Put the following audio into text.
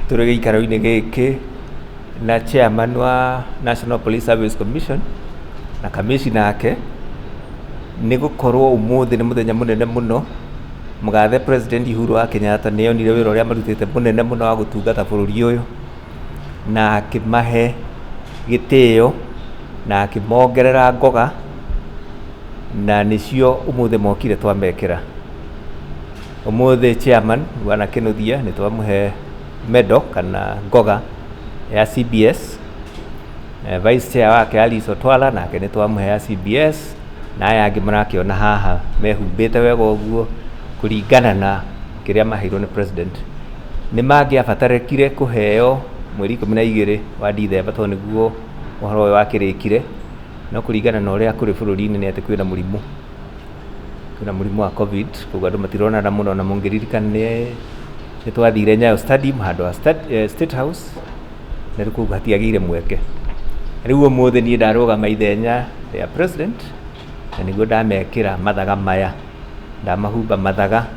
Tũrĩ gĩikaro-inĩ gĩkĩ na chairman wa National Police Service Commission na kamĩcina ake, nĩ gũkorwo ũmũthĩ nĩ mũthenya mũnene mũno, mũgathe president Uhuru wa Kenyatta nĩ onire wĩra ũrĩa marutĩte mũnene mũno wa gũtungata bũrũri ũyũ, na akĩmahe gĩtĩo na akĩmongerera ngoga, na nĩcio ũmũthĩ mokire twamekĩra. Ũmũthĩ chairman bwana Kĩnũthia nĩ twamũhe medal kana ngoga ya CBS. Vice chair wake Alice Otwala nake nĩ twamũhe ya CBS na aya angĩ mũrakĩona haha mehumbĩte wega ũguo kũringana na kĩrĩa maheirwo nĩ president. Nĩ mangĩabatarĩkire kũheo mweri ikũmi na igĩrĩ wa Ndithemba tondũ nĩguo ũhoro ũyũ wakĩrĩkire no kũringana na ũrĩa kũrĩ bũrũri-inĩ nĩ atĩ kwĩna mũrimũ. kwĩna mũrimũ wa covid koguo andũ matironana mũno na mũngĩririkana nĩ nĩ twathire nyayo stadium handũ ha sta- eh, state house na rĩu koguo hatiagĩire mweke rĩu ũmũthĩ niĩ ndarũgama ithenya rĩa president na nĩguo ndamekĩra mathaga maya ndamahumba mathaga